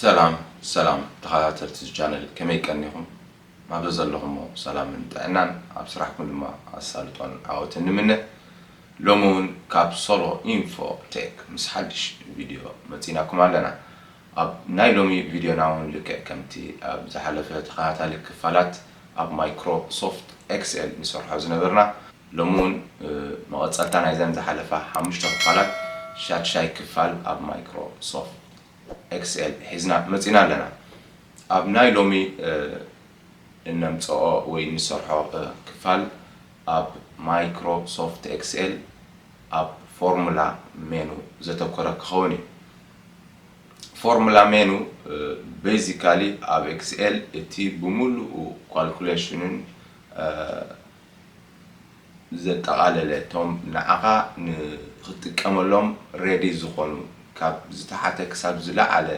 ሰላም ሰላም ተኻታተልቲ እዚ ቻነል ከመይ ቀኒኹም ናብ ዘዘለኹሞ ሰላምን ጥዕናን ኣብ ስራሕኩም ድማ ኣሳልጦን ዓወትን ንምነ ሎሚ እውን ካብ ሶሎ ኢንፎ ቴክ ምስ ሓድሽ ቪድዮ መፂናኩም ኣለና ኣብ ናይ ሎሚ ቪድዮና እውን ልክዕ ከምቲ ኣብ ዝሓለፈ ተኸታታሊ ክፋላት ኣብ ማይክሮሶፍት ኤክስኤል ንሰርሖ ዝነበርና ሎሚ እውን መቐፀልታ ናይዘን ዝሓለፋ ሓሙሽተ ክፋላት ሻድሻይ ክፋል ኣብ ማይክሮሶፍት ኤክስኤል ሒዝና መጺና ኣለና። ኣብ ናይ ሎሚ እነምጽኦ ወይ እንሰርሖ ክፋል ኣብ ማይክሮ ሶፍት ኤክስኤል ኣብ ፎርሙላ ሜኑ ዘተኮረ ክኸውን እዩ። ፎርሙላ ሜኑ ቤዚካሊ ኣብ ኤክስኤል እቲ ብምሉኡ ኳልኩሌሽንን ዘጠቓለለ እቶም ንዓኻ ንኽትጥቀመሎም ሬዲ ዝኾኑ ካብ ዝተሓተ ክሳብ ዝለዓለ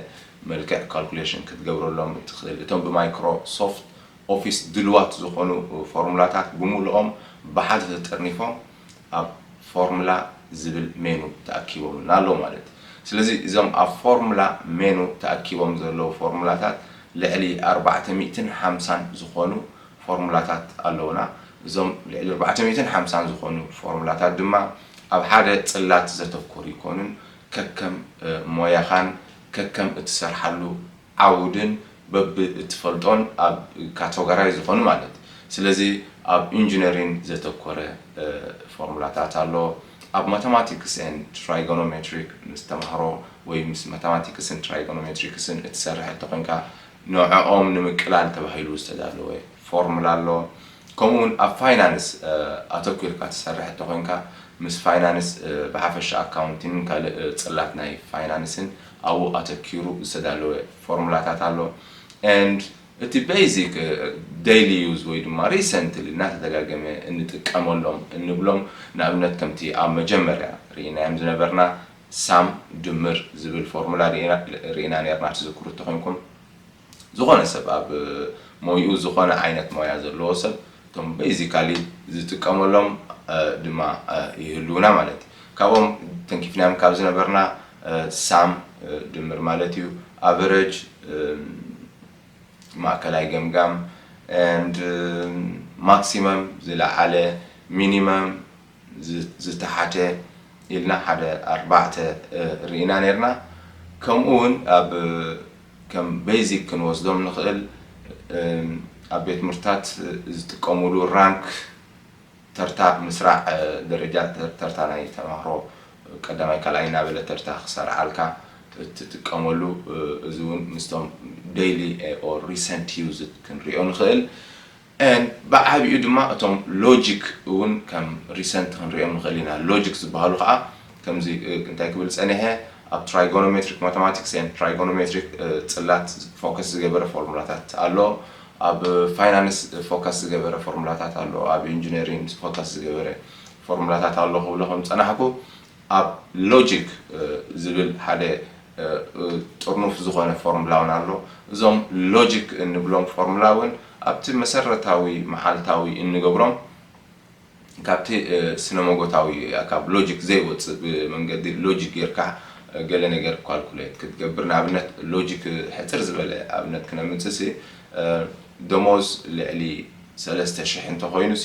መልክዕ ካልኩሌሽን ክትገብረሎም እትኽእል እቶም ብማይክሮ ሶፍት ኦፊስ ድልዋት ዝኾኑ ፎርሙላታት ብምሉኦም ብሓደ ተጠርኒፎም ኣብ ፎርሙላ ዝብል ሜኑ ተኣኪቦምልና ኣለዉ ማለት እዩ። ስለዚ እዞም ኣብ ፎርሙላ ሜኑ ተኣኪቦም ዘለዉ ፎርሙላታት ልዕሊ ኣርባዕተ ሚእትን ሓምሳን ዝኾኑ ፎርሙላታት ኣለዉና። እዞም ልዕሊ ኣርባዕተ ሚእትን ሓምሳን ዝኾኑ ፎርሙላታት ድማ ኣብ ሓደ ጽላት ዘተኩሩ ኣይኮኑን። ከከም ሞያኻን ከከም እትሰርሓሉ ዓውድን በብ እትፈልጦን ኣብ ካተጎራይዝ ዝኾኑ ማለት ስለዚ ኣብ ኢንጂነሪን ዘተኮረ ፎርሙላታት ኣሎ። ኣብ ማተማቲክስ ኤንድ ትራይጎኖሜትሪክ ምስ ተማሃሮ ወይ ምስ ማተማቲክስን ትራይጎኖሜትሪክስን እትሰርሕ እንተኾይንካ፣ ንዐኦም ንምቅላል ተባሂሉ ዝተዳለወ ፎርሙላ ኣሎ። ከምኡ ውን ኣብ ፋይናንስ ኣተኲርካ ትሰርሕ እንተኾይንካ ምስ ፋይናንስ ብሓፈሻ ኣካውንቲንን ካልእ ጽላት ናይ ፋይናንስን ኣብኡ ኣተኪሩ ዝተዳለወ ፎርሙላታት ኣሎ and እቲ basic daily use ወይ ድማ recently እናተደጋገመ እንጥቀመሎም እንብሎም ንኣብነት ከምቲ ኣብ መጀመርያ ርኢናዮም ዝነበርና ሳም ድምር ዝብል ፎርሙላ ርኢና ኔርና ትዝክሩ ተኾይንኩም ዝኾነ ሰብ ኣብ ሞይኡ ዝኾነ ዓይነት ሞያ ዘለዎ ሰብ እቶም በይዚካሊ ዝጥቀመሎም ድማ ይህልዉና ማለት እዩ ካብኦም ተንኪፍናዮም ካብ ዝነበርና ሳም ድምር ማለት እዩ ኣቨረጅ ማእከላይ ገምጋም and ማክሲመም ዝለዓለ ሚኒመም ዝተሓተ ኢልና ሓደ ኣርባዕተ ሪኢና ኔርና ከምኡ ውን ኣብ ከም በይዚክ ክንወስዶም ንኽእል ኣብ ቤት ትምህርትታት ዝጥቀሙሉ ራንክ ተርታ ምስራዕ ደረጃ ተርታ ናይ ተማሃሮ ቀዳማይ ካልኣይ እናበለ ተርታ ክሰርዓልካ እትጥቀመሉ እዚ ውን ምስቶም ደይሊ ኦር ሪሰንት ዩዝድ ክንሪኦ ንኽእል and ብዓቢኡ ድማ እቶም ሎጂክ እውን ከም ሪሰንት ክንርእዮም ንኽእል ኢና። ሎጂክ ዝበሃሉ ከኣ ከምዚ እንታይ ክብል ጸኒሐ ኣብ ትራይጎኖሜትሪክ ማተማቲክስ and ትራይጎኖሜትሪክ ጽላት ፎከስ ዝገበረ ፎርሙላታት ኣሎ፣ ኣብ ፋይናንስ ፎከስ ዝገበረ ፎርሙላታት ኣሎ፣ ኣብ ኢንጂነሪንግ ፎከስ ዝገበረ ፎርሙላታት ኣሎ ክብሎ ከም ዝጸናሕኩ ኣብ ሎጂክ ዝብል ሓደ ጥርኑፍ ዝኾነ ፎርምላ ውን ኣሎ። እዞም ሎጂክ እንብሎም ፎርምላ ውን ኣብቲ መሰረታዊ መዓልታዊ እንገብሮም ካብቲ ስነ-ሞጎታዊ ካብ ሎጂክ ዘይወጽእ ብመንገዲ ሎጂክ ጌርካ ገለ ነገር ኳልኩሌት ክትገብር ንኣብነት ሎጂክ ሕጽር ዝበለ ኣብነት ክነምጽእሲ ደሞዝ ልዕሊ ሰለስተ ሽሕ እንተኾይኑሲ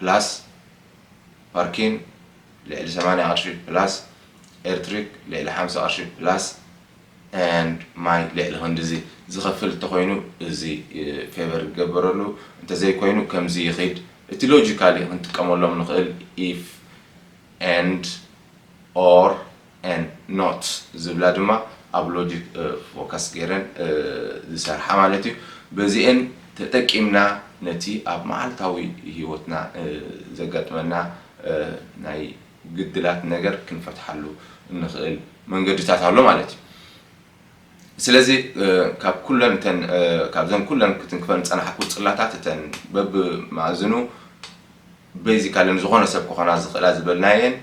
ፕላስ ፓርኪን ልዕሊ ሰማንያ ቅርሺ ፕላስ ኤርትሪክ ልዕሊ ሓምሳ ቅርሺ ፕላስ and ማይ ልዕሊ ክንድዚ ዝኸፍል እንተኾይኑ እዚ ፌቨር ይገበረሉ እንተዘይኮይኑ ከምዚ ይኺድ እቲ ሎጂካሊ ክንጥቀመሎም ንኽእል if and or and not ዝብላ ድማ ኣብ logic focus ገይረን ዝሰርሓ ማለት እዩ። በዚኤን ተጠቂምና ነቲ ኣብ መዓልታዊ ሂወትና ዘጋጥመና ናይ ግድላት ነገር ክንፈትሓሉ እንኽእል መንገድታት ኣሎ ማለት እዩ። ስለዚ ካብ ኩለን እተን ካብዘን ኩለን ክትንክፈን ዝጸናሕኩ ጽላታት እተን በብ መኣዝኑ በይዚካልን ዝኾነ ሰብ ክኾና ዝኽእላ ዝበልናየን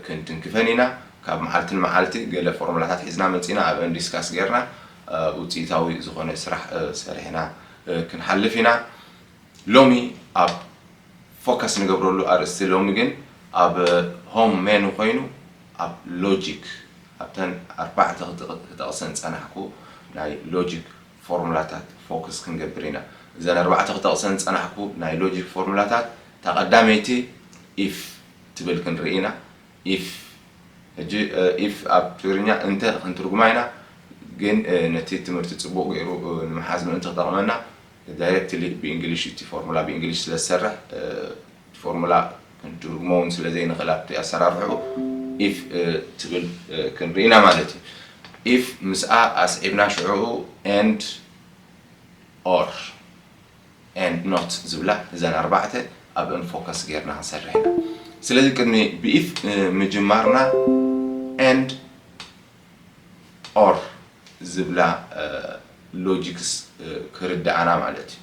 ክንትንክፈን ኢና ካብ መዓልቲ ንመዓልቲ ገለ ፎርሙላታት ሒዝና መጺና ኣብአን ዲስካስ ጌርና ውጽኢታዊ ዝኾነ ስራሕ ሰሪሕና ክንሓልፍ ኢና ሎሚ ኣብ ፎከስ ንገብረሉ ኣርእስቲ ሎሚ ግን ኣብ ሆም ሜኑ ኮይኑ ኣብ ሎጂክ ኣብተን ኣርባዕተ ክጠቕሰን ዝጸናሕኩ ናይ ሎጂክ ፎርሙላታት ፎክስ ክንገብር ኢና። እዘን ኣርባዕተ ክጠቕሰን ዝጸናሕኩ ናይ ሎጂክ ፎርሙላታት፣ እታ ቀዳመይቲ if ትብል ክንርኢ ኢና። if ሕጂ if ኣብ ትግርኛ እንተ ክንትርጉማ ኢና፣ ግን ነቲ ትምህርቲ ጽቡቕ ገይሩ ንምሓዝ ምእንቲ ክጠቕመና፣ ዳይረክትሊ ብእንግሊሽ እቲ ፎርሙላ ብእንግሊሽ ስለ ዝሰርሕ፣ እቲ ፎርሙላ ክንትርጉሞ እውን ስለ ዘይንኽእል ኣብቲ ኣሰራርሕኡ if ትብል ክንርኢ ኢና ማለት እዩ። if ምስኣ ኣስዒብና ሽዕኡ and or and not ዝብላ እዘን ኣርባዕተ ኣብእን ፎከስ ገይርና ክንሰርሕ ኢና። ስለዚ ቅድሚ ብ if ምጅማርና and or ዝብላ ሎጂክስ ክርድኣና ማለት እዩ።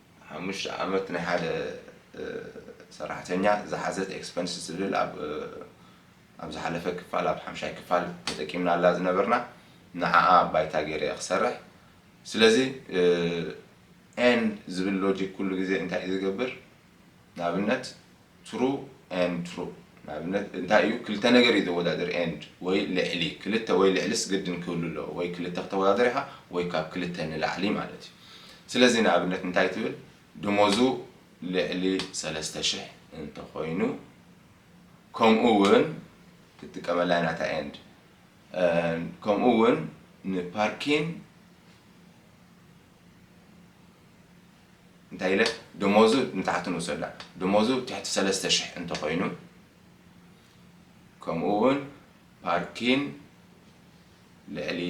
ሓሙሽተ ዓመት ናይ ሓደ ሰራሕተኛ ዝሓዘት ኤክስፐንስ ዝብል ኣብ ኣብ ዝሓለፈ ክፋል ኣብ ሓምሻይ ክፋል ተጠቂምናላ ዝነበርና ንዓኣ ባይታ ገይረ እየ ክሰርሕ ስለዚ ኤንድ ዝብል ሎጂክ ኩሉ ግዜ እንታይ እዩ ዝገብር ንኣብነት፣ True and True፣ ንኣብነት፣ እንታይ እዩ፣ ክልተ ነገር እዩ ዘወዳድር፣ and፣ ወይ ልዕሊ፣ ክልተ ወይ ልዕሊስ ግድን ክህሉ ኣለዎ፣ ወይ ክልተ ክተወዳድር ኢኻ፣ ወይ ካብ ክልተ ንላዕሊ ማለት እዩ። ስለዚ ንኣብነት እንታይ ትብል፣ ደሞዙ ልዕሊ ሰለስተ ሽሕ እንተ ኾይኑ፣ ከምኡ ውን ክትጥቀመላ ኢና እታ and፣ ከምኡ ውን ንፓርኪን፣ እንታይ ኢለ ደሞዙ ንታሕቲ ንውሰዳ ደሞዙ ትሕቲ ሰለስተ ሽሕ እንተኾይኑ ከምኡ እውን ፓርኪን ልዕሊ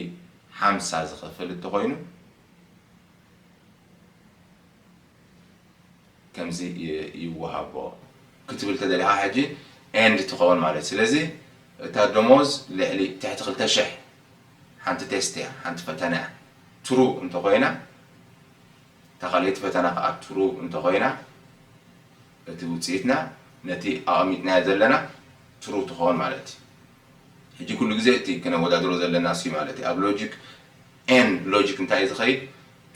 ሓምሳ ዝኸፍል እንተኾይኑ ከምዚ ይወሃቦ ክትብል ተደሊኻ ሕጂ ኤንድ ትኸውን ማለት ስለዚ እታ ደሞዝ ልዕሊ ትሕቲ ክልተ ሽሕ ሓንቲ ቴስት እያ ሓንቲ ፈተና እያ ትሩ እንተኾይና እታ ካልኣይቲ ፈተና ከኣ ትሩ እንተኾይና እቲ ውጽኢትና ነቲ ኣቐሚጥናዮ ዘለና ትሩ ትኾን ማለት እዩ። ሕጂ ኩሉ ግዜ እቲ ክነወዳድሮ ዘለና እሱ'ዩ ማለት እዩ። ኣብ ሎጂክ N ሎጂክ እንታይ እዩ ዝኸይድ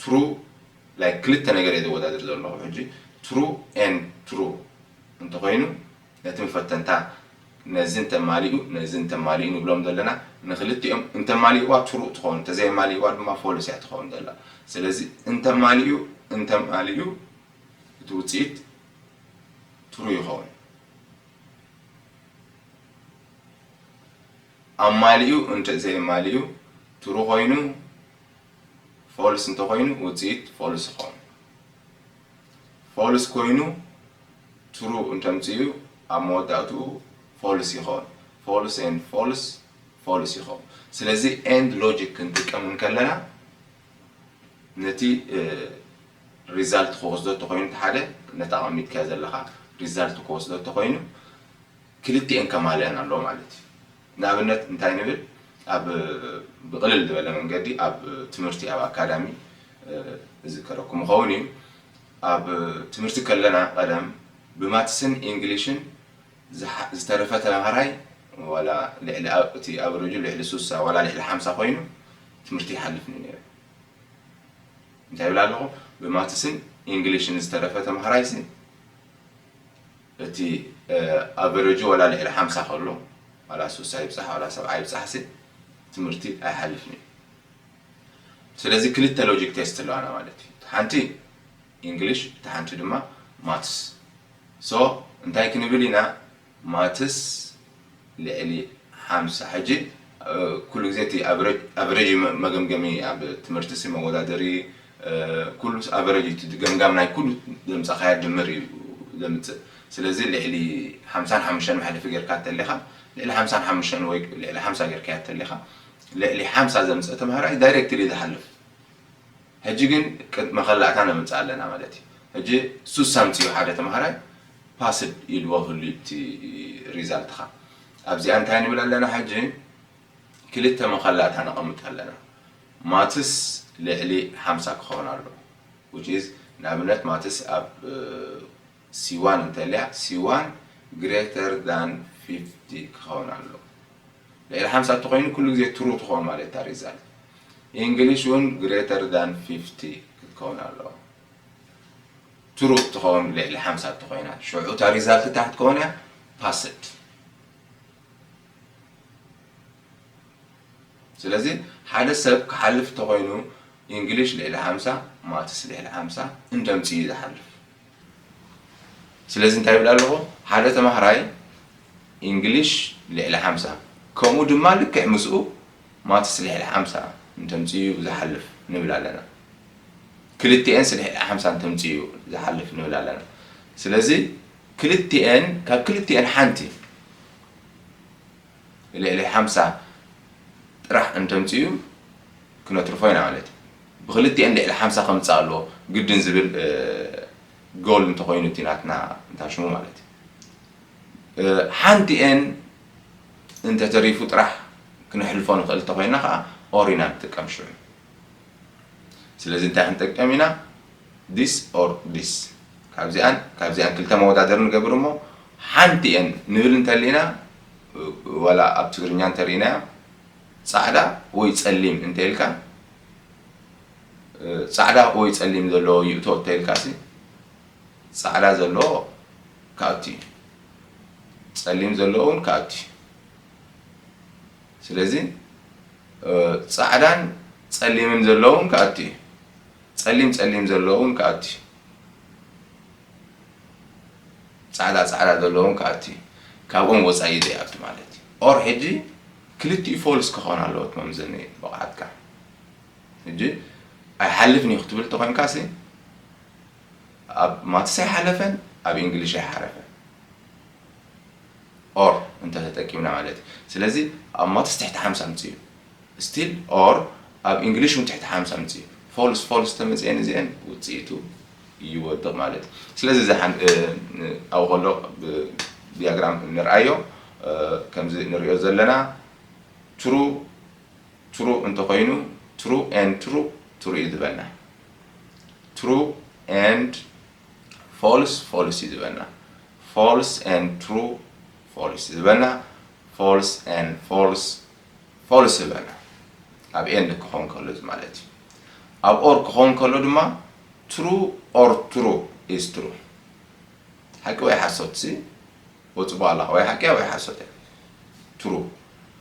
ትሩ like ክልተ ነገር እየ ዘወዳድር ዘለኹ ሕጂ ትሩ N ትሩ እንተኾይኑ ነቶም ፈተንታ ነዚ እንተማሊኡ ነዚ እንተማሊኡ ንብሎም ዘለና ንክልቲኦም እንተማሊእዋ ትሩእ ትኸውን እንተዘየማሊእዋ ድማ ፎልስ እያ ትኸውን ዘላ ስለዚ እንተማሊኡ እንተማሊኡ እቲ ውፅኢት ትሩእ ይኸውን ኣማሊኡ እንተዘየማሊኡ ትሩእ ኮይኑ ፎልስ እንተኮይኑ ውፅኢት ፎልስ ይኸውን ፎልስ ኮይኑ ትሩ እንተምጺኡ ኣብ መወዳእትኡ ፎልስ ይኾን ፎልስ and ፎልስ ፎልስ ይኾን ስለዚ and ሎጂክ ክንጥቀም እንከለና ነቲ ሪዛልት ክወስዶ ተኾይኑ ሓደ ነቲ ኣቐሚጥካዮ ዘለኻ ሪዛልት ክወስዶ ተኾይኑ ክልቲኤን ከማልእን ኣለዎ ማለት እዩ። ንኣብነት እንታይ ንብል ኣብ ብቅልል ዝበለ መንገዲ ኣብ ትምህርቲ ኣብ ኣካዳሚ እዝከረኩም ይኸውን እዩ ኣብ ትምህርቲ ከለና ቀደም ብማትስን ኢንግሊሽን ዝተረፈ ተምሃራይ ዋላ ልዕሊ እቲ ኣቨረጁ ልዕሊ ሱሳ ዋላ ልዕሊ ሓምሳ ኮይኑ ትምህርቲ ይሓልፍ እዩ ነይሩ። እንታይ ይብል ኣለኹ ብማትስን ኢንግሊሽን ዝተረፈ ተምሃራይሲ እቲ ኣቨረጁ ዋላ ልዕሊ ሓምሳ ከሎ ዋላ ስሳ ይብጻሕ ዋላ ሰብዓ ይብጻሕሲ ትምህርቲ ኣይሓልፍን እዩ ስለዚ ክልተ ሎጂክ ቴስት ኣለዋና ማለት እዩ እቲ ሓንቲ ኢንግሊሽ እቲ ሓንቲ ድማ ማትስ ሶ እንታይ ክንብል ኢና ማትስ ልዕሊ ሓምሳ ሕጂ ኩሉ ግዜ እቲ ኣቨረጅ መገምገሚ ኣብ ትምህርቲሲ መወዳደሪ ኩሉስ ኣቨረጅ እዩ እቲ ገምጋም ናይ ኩሉ ዘምጻኻዮ ድምር እዩ ዘምጽእ ስለዚ ልዕሊ ሓምሳን ሓሙሽተን መሕለፊ ጌርካ እንተሊኻ ልዕሊ ሓምሳን ሓሙሽተን ወይ ልዕሊ ሓምሳ ጌርካያ እንተሊኻ ልዕሊ ሓምሳ ዘምጽእ ተማሃራይ ዳይረክትሊ እዩ ዝሓልፍ ሕጂ ግን መኸላእታ ነምጽእ ኣለና ማለት እዩ። ሕጂ ሱስ ኣምጺኡ ሓደ ተማሃራይ ፓስድ ኢልዎ ህሉ'ዩ እቲ ሪዛልትኻ። ኣብዚኣ እንታይ ንብል ኣለና ሕጂ ክልተ መኸላእታ ነቐምጥ ኣለና። ማትስ ልዕሊ ሓምሳ ክኸውን ኣለዎ which is ንኣብነት ማትስ ኣብ C-one እንተልያ C-one greater than fifty ክኸውን ኣለዎ። ልዕሊ ሓምሳ እንተኾይኑ ኩሉ ግዜ ትሩ ትኾን ማለት እታ ሪዛልት። ኢንግሊሽ እውን ግሬተር ዳን ፊፍቲ ክትከውን ኣለዋ። ትሩ እትኸውን ልዕሊ ሓምሳ እንተኾይና ሽዑ እታ ሪዛልት እንታይ ክትከውን እያ? ፓስድ። ስለዚ ሓደ ሰብ ክሓልፍ እንተኾይኑ ኢንግሊሽ ልዕሊ ሓምሳ ማትስ ልዕሊ ሓምሳ እንተምፅኡ እዩ ዝሓልፍ። ስለዚ እንታይ ይብል ኣለኹ ሓደ ተማሃራይ ኢንግሊሽ ልዕሊ ሓምሳ ከምኡ ድማ ልክዕ ምስኡ ማትስ ልዕሊ ሓምሳ እንተምፅኡ ዝሓልፍ ንብል ኣለና ክልቲኤንስ ልዕሊ ሓምሳ እንተምፅኡ ዝሓልፍ ንብል ኣለና ስለዚ ክልቲኤን ካብ ክልቲኤን ሓንቲ ልዕሊ ሓምሳ ጥራሕ እንተምጺኡ ክነትርፎ ኢና ማለት እዩ። ብኽልቲኤን ልዕሊ ሓምሳ ከምጽኣ ኣለዎ ግድን ዝብል ጎል እንተኾይኑ እቲ ናትና እንታይ ሽሙ ማለት እዩ። ሓንቲኤን እንተተሪፉ ጥራሕ ክነሕልፎ ንኽእል እንተኾይና ከኣ ኦር ኢና ንጥቀም ሽዑ። ስለዚ እንታይ ክንጥቀም ኢና ዲስ ኦር ዲስ ካብዚኣን ካብዚኣን ክልተ መወዳድሪ ንገብር እሞ ሓንቲኤን ንብል እንተሊና ዋላ ኣብ ትግርኛ እንተሪኢናያ ፃዕዳ ወይ ፀሊም እንተኢልካ ፃዕዳ ወይ ፀሊም ዘለዎ ይእቶ እንተኢልካሲ ፃዕዳ ዘለዎ ክኣቱ እዩ ፀሊም ዘለዎ እውን ክኣቱ እዩ ስለዚ ፃዕዳን ፀሊምን ዘለውን ክኣቱ እዩ ጸሊም ጸሊም ዘሎ ውን ክኣቱ ዩ ጻዕዳ ጻዕዳ ዘሎ ውን ክኣቱ ዩ ካብኦም ወጻኢ ዘይኣቱ ማለት ዩ or ሕጂ ክልቲኡ ፎልስ ክኾን ኣለዎት መምዘኒ ብቕዓትካ ሕጂ ኣይሓልፍን ዩ ክትብል ተኾይንካሲ ኣብ ማትስ ኣይሓለፈን ኣብ ኢንግሊሽ ኣይሓረፈን or እንተ ተጠቂምና ማለት እዩ ስለዚ ኣብ ማትስ ትሕቲ ሓምሳ ኣምጽኡ still or ኣብ ኢንግሊሽ ውን ትሕቲ ሓምሳ ኣምጽኡ ፎልስ ፎልስ ተመጽኤን እዚኤን ውጽኢቱ ይወድቕ ማለት እዩ ስለዚ እዚ ኣብኡ ከሎ ብዲያግራም ንርኣዮ ከምዚ ንሪኦ ዘለና ትሩ ትሩ እንተኮይኑ ትሩ ኤንድ ትሩ ትሩ እዩ ዝበልና ትሩ ኤንድ ፎልስ ፎልስ እዩ ዝበልና ፎልስ and ትሩ ፎልስ ዝበልና ፎልስ and ፎልስ ፎልስ ዝበልና ኣብ ኤንድ ክኾን ከሎ እዚ ማለት እዩ ኣብ ኦር ክኾን ከሎ ድማ ትሩ ኦር ትሩ ኢዝ ትሩ ሓቂ ወይ ሓሶት ሲ ወፅቦ ኣላኻ ወይ ሓቂ ወይ ሓሶት እያ ትሩ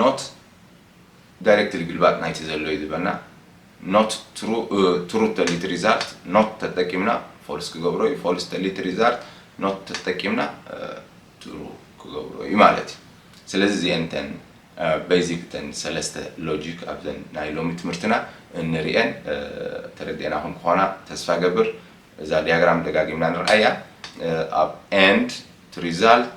ኖት ዳይረክትሊ ግልባጥ ናይቲ ዘሎ እዩ ዝበና ኖት ትሩ ትሩ ተሊቲ ሪዛልት ኖት ተጠቂምና ፎልስ ክገብሮ እዩ ፎልስ ተሊቲ ሪዛልት ኖት ተጠቂምና ትሩ ክገብሮ እዩ ማለት እዩ ስለዚ እዚኤን እተን በይዚክ እተን ሰለስተ ሎጂክ ኣብዘን ናይ ሎሚ ትምህርትና እንሪኤን ተረዲኤናኹም ክኾና ተስፋ ገብር እዛ ዲያግራም ደጋጊምና ንርኣያ ኣብ ኤንድ ቱ ሪዛልት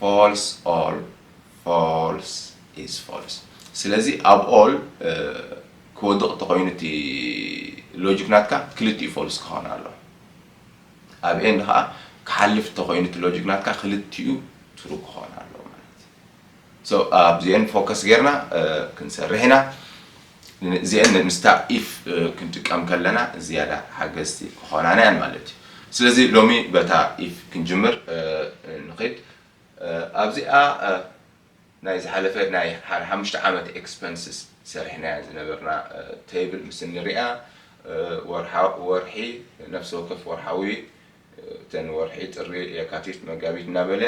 False All False is False ስለዚ ኣብ All ክወድቕ ተኾይኑ እቲ ሎጂክ ናትካ ክልቲኡ False ክኾን ኣለዎ። ኣብ End ከኣ ክሓልፍ ተኾይኑ እቲ ሎጂክ ናትካ ክልቲኡ True ክኾን ኣለዎ ማለት እዩ። So ኣብዚኤን Focus ጌርና ክንሰርሕ ኢና። እዚኤን ምስታ if ክንጥቀም ከለና ዝያዳ ሓገዝቲ ክኾናና እየን ማለት እዩ። ስለዚ ሎሚ በታ if ክንጅምር ንኺድ። ኣብዚኣ ናይ ዝሓለፈ ናይ ሓደ ሓሙሽተ ዓመት expenses ሰሪሕናያ ዝነበርና table ምስ እንሪኣ ወርሒ ነፍሲ ወከፍ ወርሓዊ እተን ወርሒ ጥሪ የካቲት መጋቢት እናበለ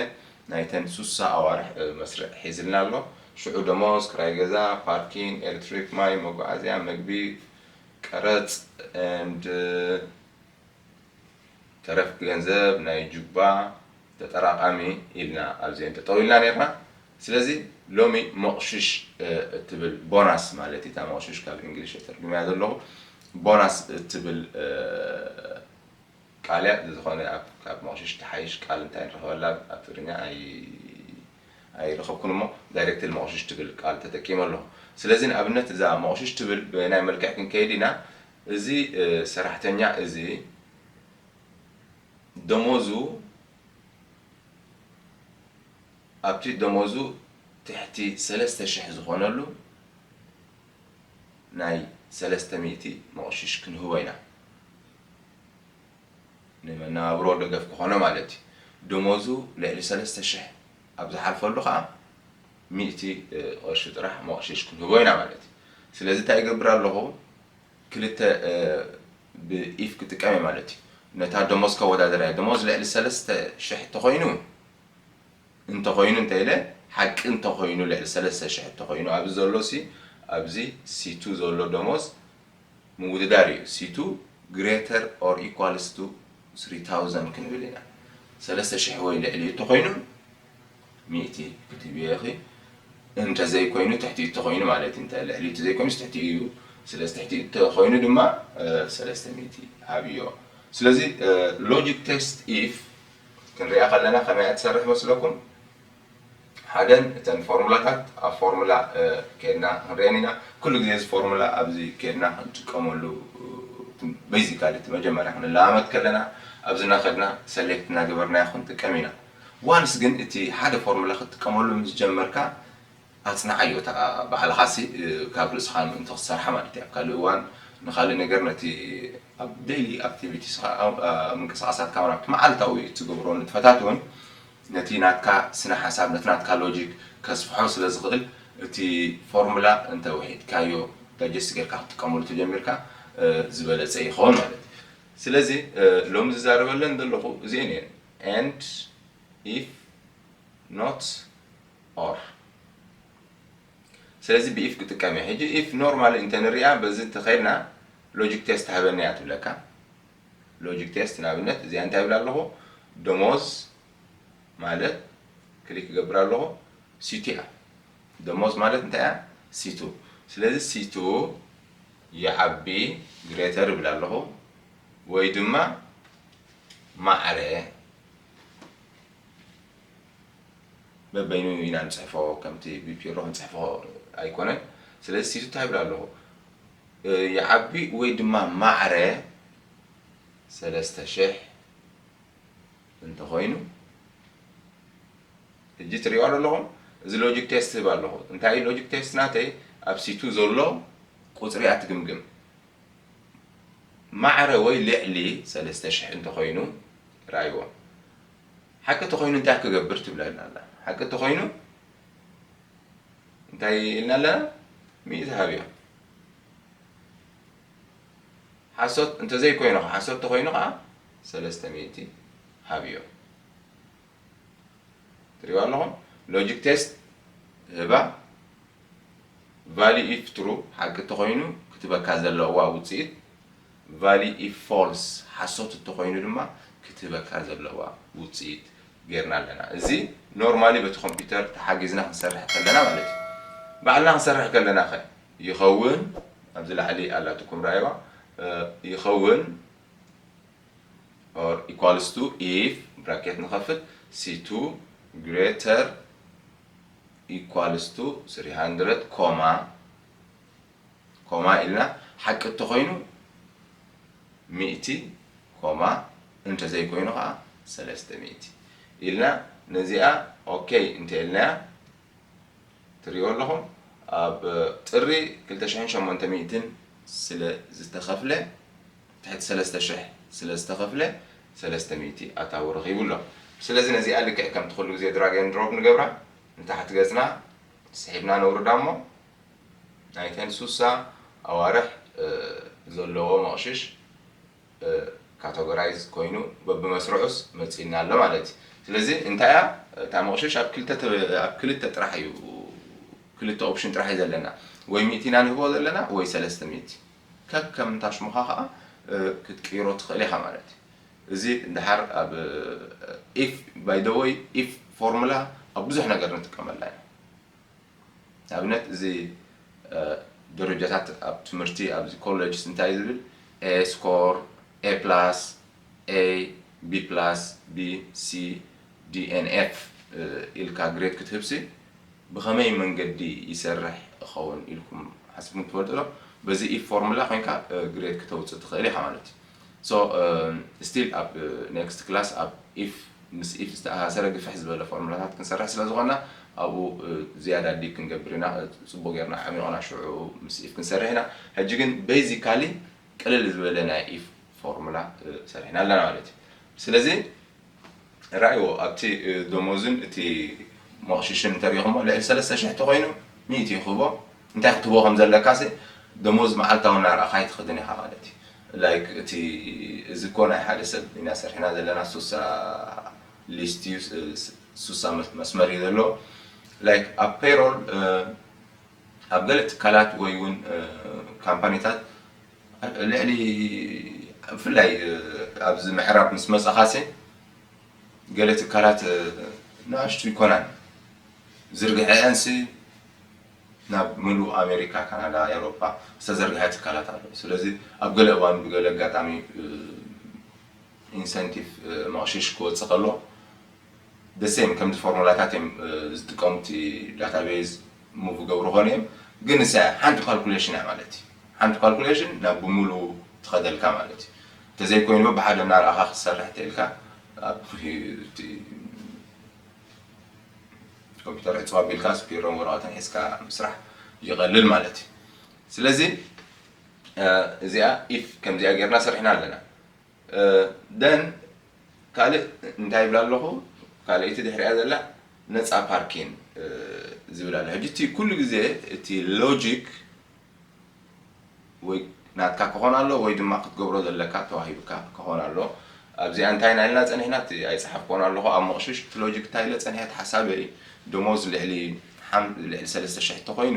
ናይተን ሱሳ ኣዋርሕ መስርዕ ሒዝልና ኣሎ ሽዑ ደሞዝ ክራይ ገዛ ፓርኪን ኤልትሪክ ማይ መጓዓዝያ መግቢ ቀረጽ and ተረፍ ገንዘብ ናይ ጁባ ተጠራቃሚ ኢልና ኣብዚኤን ጠጠው ኢልና ኔርና ስለዚ ሎሚ ሞቅሽሽ እትብል ቦናስ ማለት እታ ሞቅሽሽ ካብ እንግሊሽ ተተርጉመያ ዘለኹ ቦናስ እትብል ቃልያ ዝዝኮነ ኣብ ካብ ሞቅሽሽ ትሓይሽ ቃል እንታይ ንረክበላ ኣብ ትግርኛ ኣይ ረከብኩን እሞ ዳይረክትሊ ሞቅሽሽ ትብል ቃል ተጠቂመ ኣለኩ ስለዚ ንኣብነት እዛ ሞቅሽሽ ትብል በየናይ መልክዕ ክንከይድ ኢና እዚ ሰራሕተኛ እዚ ደሞዙ ኣብቲ ደሞዙ ትሕቲ ሰለስተ ሽሕ ዝኮነሉ ናይ ሰለስተ ሚእቲ ሞቅሽሽ ክንህቦ ኢና። ንመነባብሮ ደገፍ ክኾኖ ማለት እዩ። ደሞዙ ልዕሊ ሰለስተ ሽሕ ኣብ ዝሓልፈሉ ከኣ ሚእቲ ቅርሺ ጥራሕ ሞቕሽሽ ክንህቦ ኢና ማለት እዩ። ስለዚ እንታይ እገብር ኣለኹ ክልተ ብኢፍ ክጥቀም እየ ማለት እዩ። ነታ ደሞዝ ከወዳድራ እየ። ደሞዝ ልዕሊ ሰለስተ ሽሕ እንተኾይኑ እንተኾይኑ እንተ ኢለ ሓቂ እንተኾይኑ ልዕሊ ሰለስተ ሽሕ እንተኾይኑ ኣብዚ ዘሎሲ ኣብዚ ሲቱ ዘሎ ደሞዝ ምውድዳር እዩ ሲቱ ግሬተር ኦር ኢኳልስ ቱ ስሪ ታውዘንድ ክንብል ኢና ሰለስተ ሽሕ ወይ ልዕሊኡ እተኾይኑ ሚእቲ ክትብዮ ኢኺ እንተ ዘይኮይኑ ትሕቲኡ እተኾይኑ ማለት እንተ ልዕሊኡ እተ ዘይኮይኑስ ትሕቲኡ እዩ ስለዚ ትሕቲኡ እተ ኾይኑ ድማ ሰለስተ ሚእቲ ሃብዮ ስለዚ ሎጂክ ቴስት ኢፍ ክንሪኣ ከለና ከመይ እያ ትሰርሕ መስለኩም ሓደን እተን ፎርሙላታት ኣብ ፎርሙላ ኬድና ክንሪኤን ኢና ኩሉ ግዜ እዚ ፎርሙላ ኣብዚ ኬድና ክንጥቀመሉ በይዚካሊ እቲ መጀመርያ ክንለማመድ ከለና ኣብዚ እናኸድና ሰሌክት እናገበርናዮ ክንጥቀም ኢና ዋንስ ግን እቲ ሓደ ፎርሙላ ክትጥቀመሉ ምስ ጀመርካ ኣጽንዓዮ እታ ባዕልኻሲ ካብ ርእስኻ ምእንቲ ክትሰርሓ ማለት እዩ ኣብ ካልእ እዋን ንኻልእ ነገር ነቲ ኣብ ደይሊ ኣክቲቪቲስኻ ምንቅስቓሳትካ ኣብቲ መዓልታዊ እትገብሮ ንጥፈታት እውን ነቲ ናትካ ስነ ሓሳብ ነቲ ናትካ ሎጂክ ከስፍሖ ስለ ዝኽእል እቲ ፎርሙላ እንተ ውሒድካዮ ዳጀስት ጌርካ ክትጥቀመሉ ተጀሚርካ ዝበለጸ ይኸውን ማለት እዩ ስለዚ ሎሚ ዝዛረበለን ዘለኹ እዚኤን እየን and if not or ስለዚ ብ if ክጥቀም እየ ሕጂ if ኖርማሊ እንተ ንሪኣ በዚ እንተ ከድና ሎጂክ ቴስት ሃበኒ እያ ትብለካ ሎጂክ ቴስት ንኣብነት እዚኣ እንታይ ይብል ኣለኹ ደሞዝ ማለት ክሊክ ይገብር ኣለኹ ሲቱ እያ ደሞዝ ማለት እንታይ እያ ሲቱ ስለዚ ሲቱ ይዓቢ ግሬተር ይብል ኣለኹ ወይ ድማ ማዕረ በበይኑ ኢና ንፅሕፎ ከምቲ ብፒሮ ክንፅሕፎ ኣይኮነን ስለዚ ሲቱ እንታይ ይብል ኣለኹ ይዓቢ ወይ ድማ ማዕረ ሰለስተ ሽሕ እንተኾይኑ ሕጂ ትሪእዋ ዶ ኣለኹም እዚ ሎጂክ ቴስት ህብ ኣለኹ እንታይ እዩ ሎጂክ ቴስት ናተይ ኣብ ሲቱ ዘሎ ቁፅሪ እያ ትግምግም ማዕረ ወይ ልዕሊ ሰለስተ ሽሕ እንተኾይኑ ራይዎ ሓቂ ተኾይኑ እንታይ ክገብር ትብለና ኣላ ሓቂ ተኾይኑ እንታይ ኢልና ኣለና ሚእቲ ሃብዮ ሓሶት እንተዘይ ኮይኑ ከ ሓሶት ተኮይኑ ከኣ ሰለስተ ሚእቲ ሃብዮ ትሪእዋ ኣለኹም ሎጂክ ቴስት ህባ ቫሊ ኢፍ ትሩ ሓቂ ተኮይኑ ክትበካ ዘለዋ ውፅኢት ቫሊ ኢፍ ፎልስ፣ ሓሶት እተኾይኑ ድማ ክትህበካ ዘለዋ ውጽኢት ጌርና ኣለና። እዚ ኖርማሊ በቲ ኮምፒተር ተሓጊዝና ክንሰርሕ ከለና ማለት እዩ። ባዕልና ክንሰርሕ ከለናኸ ይኸውን? ኣብዚ ላዕሊ ኣላትኩም ርኣይዋ። ይኸውን or equals to if ብራኬት ንኸፍት c2 greater equals to 300 ኮማ ኮማ ኢልና ሓቂ እተኾይኑ ሚእቲ ኮማ እንተዘይኮይኑ ከኣ ሰለስተ ሚእቲ ኢልና ነዚኣ ok እንተኢልናያ ትሪእዎ ኣለኹም ኣብ ጥሪ ክልተ ሽሕን ሸሞንተ ሚእትን ስለ ዝተኸፍለ ትሕቲ ሰለስተ ሽሕ ስለ ዝተኸፍለ ሰለስተ ሚእቲ ኣታዊ ረኺቡ ኣሎ ስለዚ ነዚኣ ልክዕ ከምቲ ኩሉ ግዜ ድራግ ኤንድ ድሮፕ ንገብራ ንታሕቲ ገጽና ስሒብና ነውርዳ እሞ ናይተን ሱሳ ኣዋርሕ ዘለዎ መቕሽሽ ካተጎራይዝ ኮይኑ በብመስርዑስ መጺእና ኣሎ ማለት እዩ። ስለዚ እንታይ እያ እታ መቕሽሽ ኣብ ክልተ ኣብ ክልተ ጥራሕ እዩ ክልተ ኦፕሽን ጥራሕ እዩ ዘለና ወይ ሚእቲ ኢና ንህቦ ዘለና ወይ ሰለስተ ሚእቲ ከከም እታ ሽሙኻ ከኣ ክትቅይሮ ትኽእል ኢኻ ማለት እዩ። እዚ ደሓር ኣብ ኢፍ ባይ ዘ ወይ ኢፍ ፎርሙላ ኣብ ብዙሕ ነገር ንጥቀመላ ኢና። ንኣብነት እዚ ደረጃታት ኣብ ትምህርቲ ኣብዚ ኮለጅስ እንታይ ዝብል A score A plus A B plus B C D and F ኢልካ ግሬድ ክትህብሲ ብኸመይ መንገዲ ይሰርሕ እኸውን ኢልኩም ሓሲብኩም ትፈልጡ ዶ? በዚ ኢፍ ፎርሙላ ኮይንካ ግሬድ ክተውጽእ ትኽእል ኢኻ ማለት እዩ። So still ኣብ next class ኣብ if ምስ if ዝተኣሳሰረ ግፍሕ ዝበለ ፎርሙላታት ክንሰርሕ ስለ ዝኾንና ኣብኡ ዝያዳ dig ክንገብር ኢና ጽቡቕ ጌርና ኣዕሚቑና ሽዑ ምስ if ክንሰርሕ ኢና ሕጂ ግን basically ቅልል ዝበለ ናይ if ፎርሙላ ሰሪሕና ኣለና ማለት እዩ ስለዚ ርኣይዎ ኣብቲ ደሞዙን እቲ መቕሽሽን እንተ ሪኢኹሞ ልዕሊ ሰለስተ ሽሕ ተኾይኑ ሚእቲ እዩ ክህቦ እንታይ ክትህቦ ከም ዘለካሲ ደሞዝ መዓልታዊ እናርኣኻ ኣይትኸድን ኢኻ ማለት እዩ like እቲ እዚ እኮ ናይ ሓደ ሰብ ኢና ሰሪሕና ዘለና ሱሳ ሊስት እዩ ሱሳ መስመር እዩ ዘለዎ like ኣብ ፔሮል ኣብ ገለ ትካላት ወይ እውን ካምፓኒታት ልዕሊ ብፍላይ ኣብዚ ምዕራብ ምስ መጻኻሲ ገለ ትካላት ንኣሽቱ ይኮናን ዝርግሐኤንሲ ናብ ምሉእ ኣሜሪካ ካናዳ ኤሮፓ ዝተዘርግሐ ትካላት ኣሎ ስለዚ ኣብ ገለ እዋን ብገለ ኣጋጣሚ ኢንሰንቲቭ መቕሽሽ ክወጽእ ከሎ the same ከምቲ ፎርሙላታት እዮም ዝጥቀሙ እቲ ዳታ ቤዝ move ይገብሩ ይኾኑ እዮም ግን ንሳ እያ ሓንቲ ካልኩሌሽን እያ ማለት እዩ ሓንቲ ካልኩሌሽን ናብ ብሙሉ ትኸደልካ ማለት እዩ እንተዘይኮይኑ ብሓደ እናረኣኻ ክትሰርሕ ተኢልካ ኣብ ኮምፒተር ዕፅው ኣቢልካስ ቢሮን ወረቐትን ሒዝካ ምስራሕ ይቐልል ማለት እዩ ስለዚ እዚኣ ኢፍ ከምዚኣ ጌርና ሰሪሕና ኣለና ደን ካልእ እንታይ ይብል ኣለኹ ካልኣይቲ ድሕሪኣ ዘላ ነፃ ፓርኪን ዝብል ኣሎ ሕጂ እቲ ኩሉ ግዜ እቲ ሎጂክ ወይ ናትካ ክኾን ኣሎ ወይ ድማ ክትገብሮ ዘለካ ተዋሂብካ ክኾን ኣሎ ኣብዚኣ እንታይ ናይልና ፀኒሕና እቲ ኣይፀሓፍኮን ኣለኹ ኣብ መቕሽሽ እቲ ሎጂክ እንታይ ኢለ ፀኒሐ ሓሳበይ ደሞዝ ልዕሊ ልዕሊ ሰለስተ ሽሕ ተኮይኑ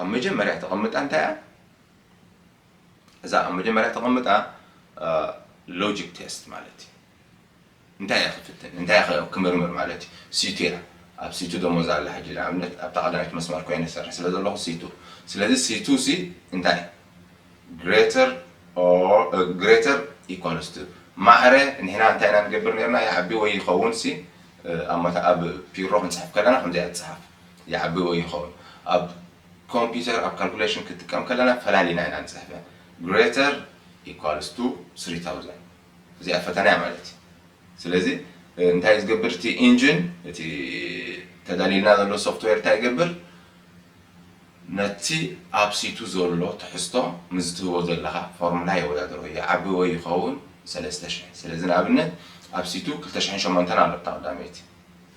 ኣብ መጀመርያ ተቐምጣ እንታይ እያ? እዛ ኣብ መጀመርያ ተቐምጣ ሎጂክ ቴስት ማለት እዩ። እንታይ እያ ክፍትን እንታይ እያ ክምርምር ማለት እዩ። ሲቱ እያ ኣብ ሲቱ ደሞዝ ኣላ ሕጂ ንኣብነት ኣብታ ቀዳመይቲ መስመር ኮይነ ዝሰርሕ ስለ ዘለኹ ሲቱ ስለዚ ሲቱ ሲ እንታይ እዩ ግሬተር ግሬተር ኢኳልስ ቱ ማዕረ ንሕና እንታይ ኢና ንገብር ነርና ይዓቢ ወይ ይኸውን ሲ ኣብ ፒሮ ክንፅሕፍ ከለና ከምዚኣ ትፅሓፍ ይዓቢ ወይ ይኸውል ኣብ ኮምፒተር ኣብ ካልኩሌሽን ክትጥቀም ከለና ፈላሊና ኢና ንጽሕፈ greater equals to three thousand እዚኣ ፈተናያ ማለት እዩ ስለዚ እንታይ እዩ ዝገብር እቲ ኢንጂን እቲ ተዳሊልና ዘሎ ሶፍትዌር እንታይ ይገብር ነቲ ኣብ ሲቱ ዘሎ ትሕዝቶ ምስ ትህቦ ዘለኻ ፎርሙላ የወዳድሮ ይዓቢ ወይ ይኸውን ሰለስተ ሽሕ ስለዚ ንኣብነት ኣብ ሲቱ ክልተ ሽሕን ሸሞንተን ኣሎ እታ ቀዳመይቲ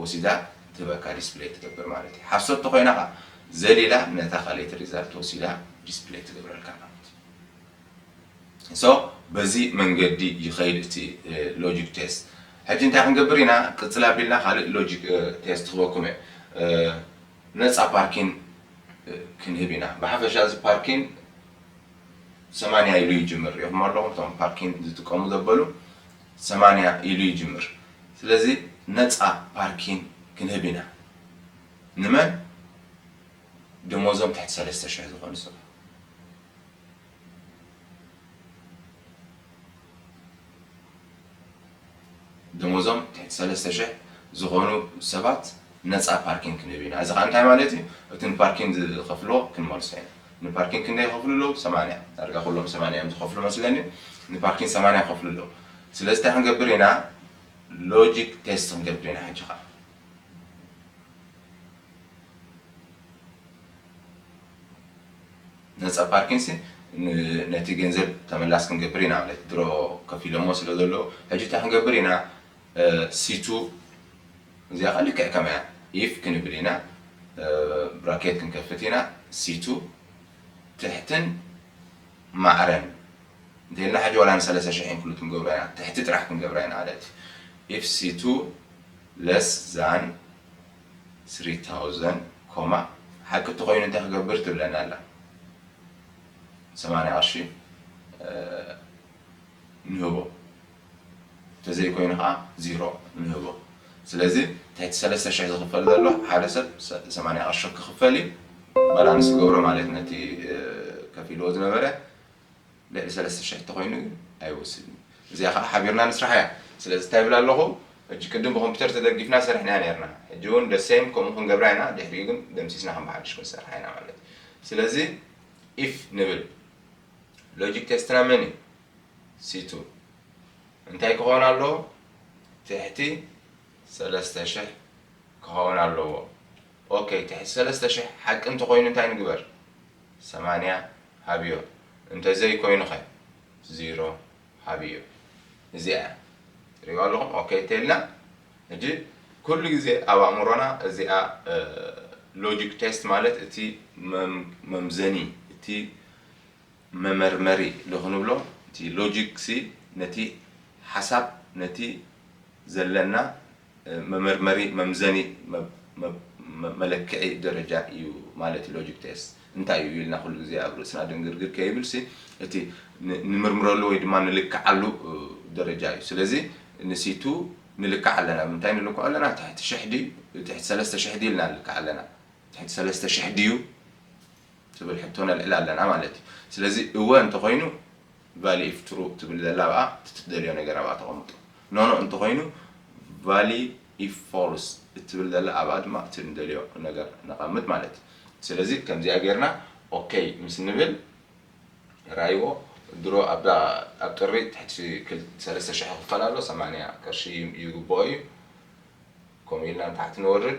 ወሲዳ ትህበካ ዲስፕለይ ትገብር ማለት እዩ ሓሶት ተኾይና ከኣ ዘሊላ ነታ ካልኤቲ ሪዛልት ወሲዳ ዲስፕለይ ትገብረልካ ማለት እዩ so በዚ መንገዲ ይኸይድ እቲ ሎጂክ ቴስት ሕጂ እንታይ ክንገብር ኢና ቅጽል ኣቢልና ካልእ ሎጂክ ቴስት ክህበኩም እየ ነጻ ፓርኪን ክንህብ ኢና ብሓፈሻ እዚ ፓርኪን ሰማንያ ኢሉ ይጅምር ሪኢኹሞ ኣለኹም እቶም ፓርኪን ዝጥቀሙ ዘበሉ ሰማንያ ኢሉ ይጅምር ስለዚ ነጻ ፓርኪን ክንህብ ኢና ንመን ደሞዞም ትሕቲ ሰለስተ ሽሕ ዝኮኑ ሰባት። ደሞዞም ትሕቲ ሰለስተ ሽሕ ዝኮኑ ሰባት ነጻ ፓርኪን ክንህብ ኢና። እዚ ከኣ እንታይ ማለት እዩ እቲ ንፓርኪን ዝኸፍልዎ ክንመልሶ ኢና። ንፓርኪን ክንደይ ይኸፍሉ ኣለዉ ሰማንያ ዳርጋ ኩሎም ሰማንያ እዮም ዝኸፍሉ መስለኒ ንፓርኪን ሰማንያ ይኸፍሉ ኣለዉ። ስለዚ እንታይ ክንገብር ኢና ሎጂክ ቴስት ክንገብር ኢና ሕጂ ከኣ። ነጻ ፓርኪንሲ ነቲ ገንዘብ ተመላስ ክንገብር ኢና ማለት ድሮ ከፊሎሞ ስለ ዘለዉ ሕጂ እንታይ ክንገብር ኢና። ሲቱ እዚኣ ከኣ ልክዕ ከማያ if ክንብል ኢና ብራኬት ክንከፍት ኢና ሲቱ ትሕትን ማዕረን እንተኢልና ሕጂ ዋላ ንሰለሰ ሽሕ ኢንክሉድ ክንገብሮ ኢና ትሕቲ ጥራሕ ክንገብራ ኢና ማለት እዩ if ሲቱ less than three thousand ኮማ ሓቂ እንተኾይኑ እንታይ ክገብር ትብለና ኣላ ሰማንያ ቅርሺ ንህቦ። ተዘይኮይኑ ከኣ ዚሮ ንህቦ ስለዚ ትሕቲ ሰለስተ ሽሕ ዝኽፈል ዘሎ ሓደ ሰብ ሰማንያ ቅርሺ ክኽፈል እዩ ባላንስ ክገብሮ ማለት ነቲ ከፊልዎ ዝነበረ ልዕሊ ሰለስተ ሽሕ እንተኾይኑ ግን ኣይወስድን እዩ እዚኣ ከኣ ሓቢርና ንስራሕ እያ ስለዚ እንታይ ይብል ኣለኹ ሕጂ ቅድም ብኮምፒተር ተደጊፍና ሰርሕና ኔርና ሕጂ እውን the same ከምኡ ክንገብራ ኢና ድሕሪኡ ግን ደምሲስና ከም ብሓድሽ ክንሰርሓ ኢና ማለት እዩ ስለዚ if ንብል ሎጂክ ቴስትና መን እዩ ሲቱ እንታይ ክኾን ኣለዎ ትሕቲ ሰለስተ ሽሕ ክኸውን ኣለዎ ኦከይ ትሕቲ ሰለስተ ሽሕ ሓቂ እንተኾይኑ እንታይ ንግበር ሰማንያ ሃብዮ እንተዘይ ኮይኑኸ ዚሮ ሃብዮ እዚኣ እያ ትሪእዋ ኣለኹም ኦከይ እንተልና ሕጂ ኩሉ ግዜ ኣብ ኣእምሮና እዚኣ ሎጂክ ቴስት ማለት እቲ መምዘኒ እቲ መመርመሪ ዶ ክንብሎ እቲ ሎጂክ ሲ ነቲ ሓሳብ ነቲ ዘለና መመርመሪ መምዘኒ መለክዒ ደረጃ እዩ ማለት እዩ ሎጂክ ቴስት እንታይ እዩ ኢልና ኩሉ ግዜ ኣብ ርእስና ድንግርግር ከይብል ሲ እቲ ንምርምረሉ ወይ ድማ ንልክዓሉ ደረጃ እዩ ስለዚ ንሲቱ ንልክዕ ኣለና ብምንታይ ንልክዖ ኣለና ትሕቲ ሽሕ ድዩ ትሕቲ ሰለስተ ሽሕ ድዩ ኢልና ንልክዕ ኣለና ትሕቲ ሰለስተ ሽሕ ድዩ ትብል ሕቶ ነልዕል ኣለና ማለት እዩ። ስለዚ እወ እንተኾይኑ ቫሊኢፍ ትሩ ትብል ዘላ ኣብኣ እቲ ትደልዮ ነገር ኣብኣ ተቐምጦ። ኖኖ እንተኾይኑ ቫሊኢፍ ፎልስ እትብል ዘላ ኣብኣ ድማ እቲ ንደልዮ ነገር ነቐምጥ ማለት እዩ። ስለዚ ከምዚኣ ጌርና ኦከይ ምስ ንብል ራይዎ ድሮ ኣብዛ ኣብ ጥሪ ትሕቲ ሰለስተ ሽሕ ክኽፈል ኣሎ ሰማንያ ቅርሺ ይግብኦ እዩ። ከምኡ ኢልና ንታሕቲ ንወርድ።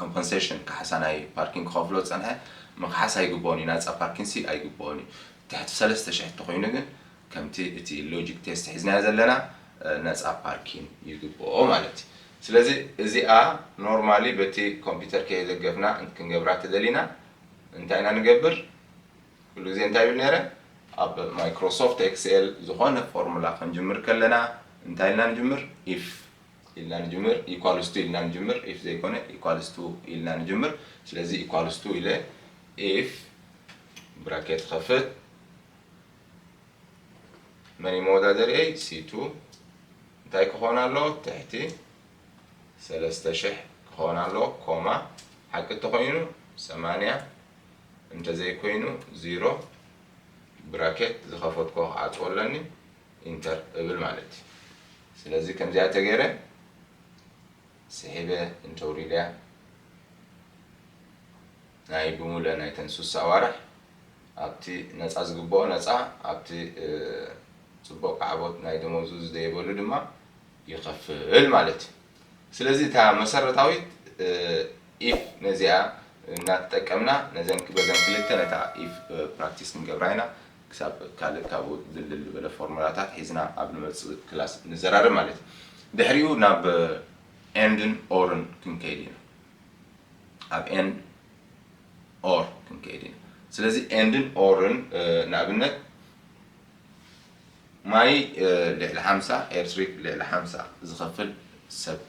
ኮምፐንሴሽን ካሕሳ ናይ ፓርኪን ክኸፍሎ ዝጸንሐ ምኽሓስ ኣይግብኦን እዩ፣ ናጻ ፓርኪንሲ ኣይግብኦን እዩ። ትሕቲ ሰለስተ ሽሕ እንተኾይኑ ግን ከምቲ እቲ ሎጂክ ቴስት ሒዝናዮ ዘለና ነጻ ፓርኪን ይግብኦ ማለት እዩ። ስለዚ እዚኣ ኖርማሊ በቲ ኮምፒተር ከየደገፍና ክንገብራ እንተደሊና እንታይ ኢና ንገብር? ኩሉ ግዜ እንታይ ይብል ነይረ? ኣብ ማይክሮሶፍት ኤክስኤል ዝኾነ ፎርሙላ ክንጅምር ከለና እንታይ ኢልና ንጅምር? ኢፍ ኢልና ንጅምር equals to ኢልና ንጅምር if ዘይኮነ equals to ኢልና ንጅምር ስለዚ equals to ኢለ if ብራኬት ይኸፍት መን መወዳደሪየይ ሲቱ እንታይ ክኾን ኣሎ ትሕቲ ሰለስተ ሽሕ ክኾን ኣሎ ኮማ ሓቂ እንተኾይኑ ሰማንያ እንተዘይኮይኑ ዚሮ ብራኬት ዝኸፈትኮ ክዓፅዎ ኣለኒ ኢንተር እብል ማለት እዩ ስለዚ ከምዚኣ ተገይረ ስሒበ እንተውሪደያ ናይ ብሙሉኤን ናይተን ሱሳ ኣዋርሕ ኣብቲ ነፃ ዝግበኦ ነፃ ኣብቲ ፅቡቕ ካዕቦት ናይ ደመውዙ ዝደይበሉ ድማ ይኸፍል ማለት እዩ። ስለዚ እታ መሰረታዊት ኢፍ ነዚኣ እናተጠቀምና ነዘን በዘን ክልተ ነታ ኢፍ ፕራክቲስ ክንገብራ ኢና። ክሳብ ካልእ ካብኡ ድልድል ዝበለ ፎርሙላታት ሒዝና ኣብ ንመጽእ ክላስ ንዘራረብ ማለት እዩ። ድሕሪኡ ናብ ኤንድን ኦርን ክንከይድ ኢና። ኣብ ኤንድ ኦር ክንከይድ ኢና። ስለዚ ኤንድን ኦርን ንኣብነት ማይ ልዕሊ ሓምሳ ኤርትሪክ ልዕሊ ሓምሳ ዝኸፍል ሰብ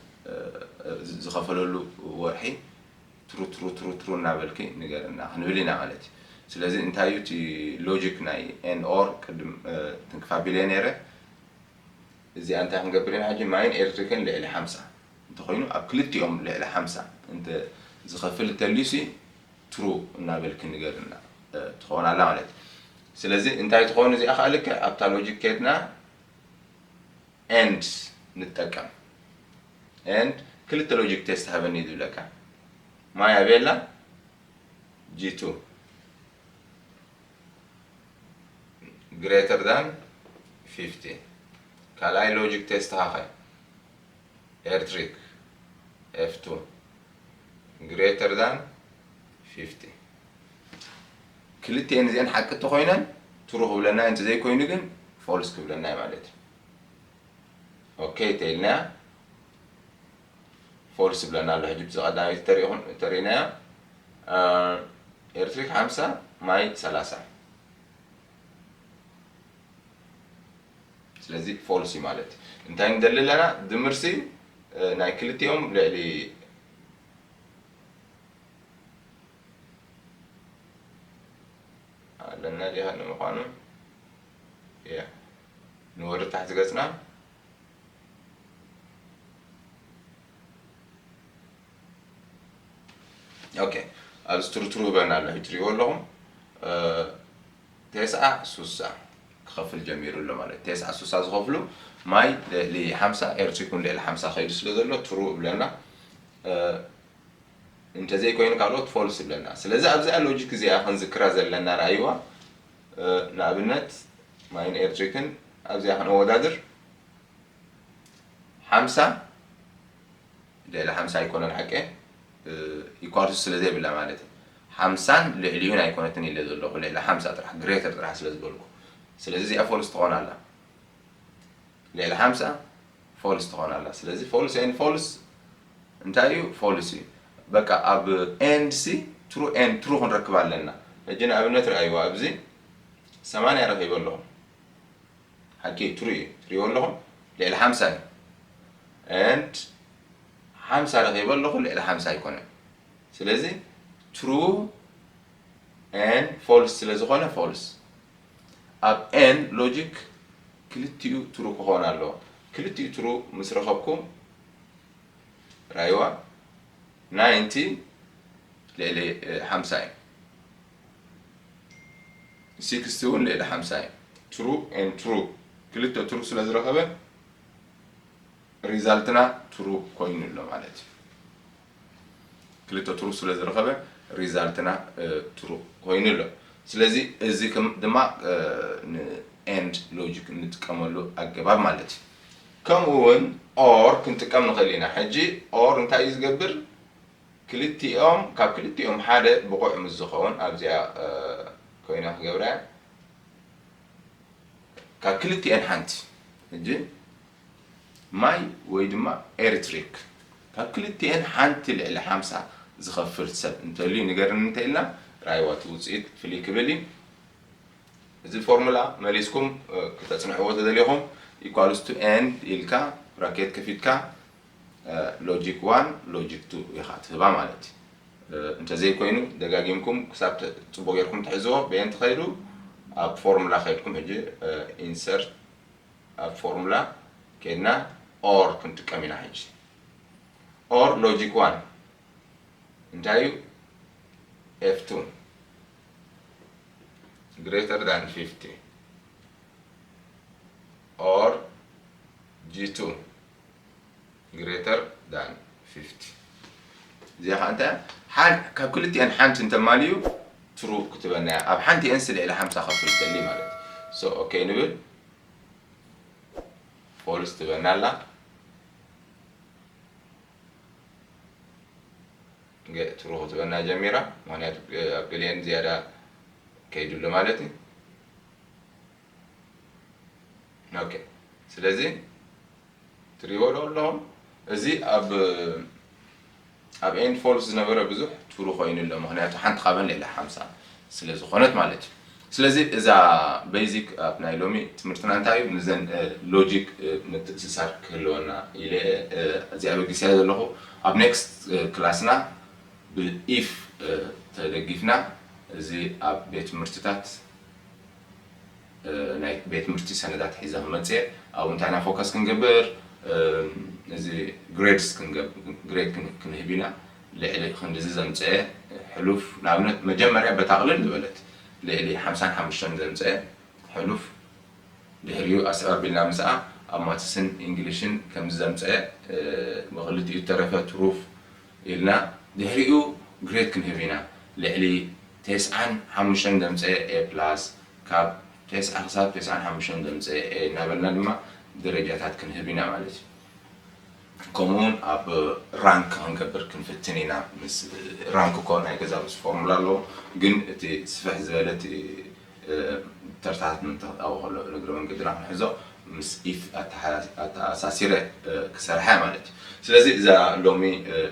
ዝኸፈለሉ ወርሒ ትሩትሩትሩትሩ እናበልኪ ንገርና ክንብል ኢና ማለት እዩ ስለዚ እንታይ እዩ እቲ ሎጂክ ናይ and or ቅድም ትንክፍ ኣቢለየ ነይረ እዚኣ እንታይ ክንገብር ኢና ሕጂ ማይን ኤሌክትሪክን ልዕሊ ሓምሳ እንተኾይኑ ኣብ ክልቲኦም ልዕሊ ሓምሳ እንተ ዝኸፍል እንተልዩሲ ትሩ እናበልኪ ንገርና ትኸውን ኣላ ማለት እዩ ስለዚ እንታይ ትኸውን እዚኣ ከዓ ልክዕ ኣብታ ሎጂክ ከድና ኤንድ ንጠቀም and ክልተ ሎጂክ ቴስት ሃበኒ ዝብለካ ማይ ኣበይ ኣላ ጂቱ ግሬተር ዳን ፊፍቲ ካልኣይ ሎጂክ ቴስት ሃኸ ኤርትሪክ ኤፍቱ ግሬተር ዳን ፊፍቲ ክልቲኤን እዚኤን ሓቂ እንተኮይነን ትሩ ክብለና እንተዘይኮይኑ ግን ፎልስ ክብለና ማለት እዩ ኦከይ እንተኢልናያ ፎልስ ይብለና ኣሎ ሕጂ ብዚ ቀዳመይቲ ተሪኢኹም ተሪኢናያ ኤርትሪክ ሓምሳ ማይ ሰላሳ ስለዚ ፎልስ እዩ ማለት እዩ እንታይ ንደሊ ኣለና ድምርሲ ናይ ክልቲኦም ልዕሊ ኣለና ዲኻ ንምዃኑ እያ ንወደ ታሕቲ ገጽና ኦኬ ኣብዚ ትርትሩ ይብለና ኣሎ ሕጂ ትሪእዎ ኣለኹም ቴስዓ ሱሳ ክኸፍል ጀሚሩ ኣሎ ማለት ቴስዓ ሱሳ ዝኸፍሉ ማይ ልዕሊ ሓምሳ ኤርትሪ ኩን ልዕሊ ሓምሳ ከይዱ ስለ ዘሎ ትሩ እብለና እንተዘይኮይኑ ካልኦት ፎልስ እብለና ስለዚ ኣብዚኣ ሎጂክ እዚኣ ክንዝክራ ዘለና ረኣይዋ ንኣብነት ማይን ኤርትሪክን ኣብዚኣ ክነወዳድር ሓምሳ ልዕሊ ሓምሳ ኣይኮነን ሓቀ ኢኳልስ ስለ ዘይብላ ማለት እዩ ሓምሳን ልዕሊኡን ኣይኮነትን ኢለ ዘለኹ ልዕሊ ሓምሳ ጥራሕ ግሬተር ጥራሕ ስለ ዝበልኩ ስለዚ እዚኣ ፎልስ ትኾን ኣላ ልዕሊ ሓምሳ ፎልስ ትኾን ኣላ ስለዚ ፎልስ ኤንድ ፎልስ እንታይ እዩ ፎልስ እዩ በቃ ኣብ ኤንድ ሲ ትሩ ኤንድ ትሩ ክንረክብ ኣለና ሕጂ ንኣብነት ርኣይዋ ኣብዚ ሰማንያ ረኺበ ኣለኹ ሓቂ እዩ ትሩ እዩ ትሪእዎ ኣለኹም ልዕሊ ሓምሳ እዩ ኤንድ ሓምሳ ረኺበ ኣለኹ ልዕሊ ሓምሳ ኣይኮነን ስለዚ ትሩ ኤን ፎልስ ስለ ዝኾነ ፎልስ ኣብ ኤን ሎጂክ ክልቲኡ ትሩ ክኾን ኣለዎ ክልቲኡ ትሩ ምስ ረኸብኩም ራይዋ ናይንቲ ልዕሊ ሓምሳ እዩ ሲክስቲ እውን ልዕሊ ሓምሳ እዩ ትሩ ን ትሩ ክልተ ትሩ ስለ ዝረኸበ ሪዛልትና ትሩ ኮይኑ ኣሎ ማለት እዩ ክልተ ትሩ ስለ ዝረኸበ ሪዛልትና ትሩ ኮይኑ ኣሎ ስለዚ እዚ ድማ ን ኤንድ ሎጂክ እንጥቀመሉ ኣገባብ ማለት እዩ ከምኡ ውን ኦር ክንጥቀም ንኽእል ኢና ሕጂ ኦር እንታይ እዩ ዝገብር ክልቲኦም ካብ ክልቲኦም ሓደ ብቑዕ ምስ ዝኸውን ኣብዚኣ ኮይና ክገብራ እያ ካብ ክልቲኤን ሓንቲ ሕጂ ማይ ወይ ድማ ኤርትሪክ ካብ ክልቲኤን ሓንቲ ልዕሊ ሓምሳ ዝኸፍል ሰብ እንተልዩ ንገርኒ እንተኢልና ራይዋ እቲ ውጽኢት ፍልይ ክብል እዩ። እዚ ፎርሙላ መሊስኩም ክተጽንዕዎ ተደሊኹም ኢኳልስ ቱ ኤንድ ኢልካ ብራኬት ከፊትካ ሎጂክ ዋን ሎጂክ ቱ ኢኻ ትህባ ማለት እዩ። እንተዘይኮይኑ ደጋጊምኩም ክሳብ ጽቡቕ ጌርኩም ትሕዝዎ በየን ትኸዱ ኣብ ፎርሙላ ከድኩም ሕጂ ኢንሰርት ኣብ ፎርሙላ ኬድና or ክንጥቀም ኢና ሕጂ or logic one እንታይ እዩ ኤፍ ቱን greater than 50 or G2 greater than 50 እዚኣ ከዓ እንታይ ሓን ካብ ክልቲኤን ሓንቲ እንተማልዩ ትሩ ክትበና እያ ኣብ ሓንቲኤን ስልዒ ለ ሓምሳ ከፍል ተሊ ማለት ሶ ኦኬ ንብል ፎልስ ትበና ኣላ ትሩ ክትበና ጀሚራ ምክንያቱ ኣብ ገሊአን ዝያዳ ከይዱ ኣሎ ማለት እዩ ኦኬ ስለዚ ትሪእዎ ዶ ኣለኹም እዚ ኣብ ኣብ ኤንድ ፎልስ ዝነበረ ብዙሕ ትሩ ኮይኑ ኣሎ ምክንያቱ ሓንቲ ካብን ልዕሊ ሓምሳ ስለ ዝኾነት ማለት እዩ ስለዚ እዛ ቤዚክ ኣብ ናይ ሎሚ ትምህርትና እንታይ እዩ ንዘን ሎጂክ ምትእስሳር ክህልወና ኢለ እዚ ኣበጊስያ ዘለኹ ኣብ ኔክስት ክላስና ብኢፍ ተደጊፍና እዚ ኣብ ቤት ትምህርትታት ናይ ቤት ትምህርቲ ሰነዳት ሒዘ ክመጽየ ኣብኡ እንታይ ኢና ፎከስ ክንገብር እዚ ግሬድስ ግሬድ ክንህብ ኢና ልዕሊ ክንድዚ ዘምጸኤ ሕሉፍ ንኣብነት መጀመርያ በታ ቅልል ዝበለት ልዕሊ ሓምሳን ሓሙሽተን ዘምጸኤ ሕሉፍ ድሕሪኡ ኣስዕብ ኣቢልና ምስኣ ኣብ ማትስን ኢንግሊሽን ከምዚ ዘምጸኤ ብክልቲኡ እተረፈ ትሩፍ ኢልና ድሕሪኡ ግሬድ ክንህብ ኢና ልዕሊ ቴስዓን ሓሙሽተን ዘምጸኤ A plus ካብ ቴስዓ ክሳብ ቴስዓን ሓሙሽተን ዘምጸኤ A እናበልና ድማ ደረጃታት ክንህብ ኢና ማለት እዩ ከምኡ ውን ኣብ ራንክ ክንገብር ክንፍትን ኢና ምስ ራንክ እኮ ናይ ገዛ ምስ ፎርሙላ ኣለዎ ግን እቲ ስፍሕ ዝበለ እቲ ተርታታት ምምታታዊ ከሎ ንእግረ መንገድና ክንሕዞ ምስ ኢፍ ኣተኣሳሲረ ክሰርሓ ማለት እዩ። ስለዚ እዛ ሎሚ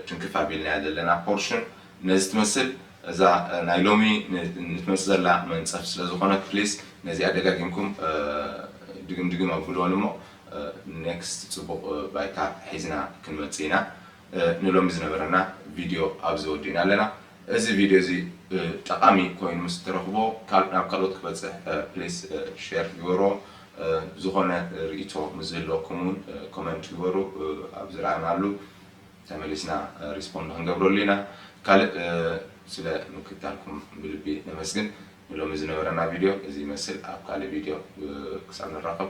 ትንክፍ ኣቢልናያ ዘለና ፖርሽን ነዚ ትመስል። እዛ ናይ ሎሚ ንትመጽእ ዘላ መንጸፍ ስለ ዝኾነት please ነዚኣ ደጋጊምኩም ድግም ድግም ኣብሉወን እሞ next ጽቡቕ ባይታ ሒዝና ክንመጽእ ኢና። ንሎሚ ዝነበረና ቪድዮ ኣብዚ ወዲእና ኣለና። እዚ ቪድዮ እዚ ጠቓሚ ኮይኑ ምስ እትረኽቦ ናብ ካልኦት ክበጽሕ ፕሊስ ሼር ግበርዎ። ዝኾነ ርኢቶ ምስ ዝህልወኩም እውን ኮመንት ግበሩ ኣብ ዝረኣናሉ ተመሊስና ሪስፖንድ ክንገብረሉ ኢና። ካልእ ስለ ምክትታልኩም ብልቢ ነመስግን። ንሎሚ ዝነበረና ቪድዮ እዚ ይመስል። ኣብ ካልእ ቪድዮ ክሳብ ንራኸብ።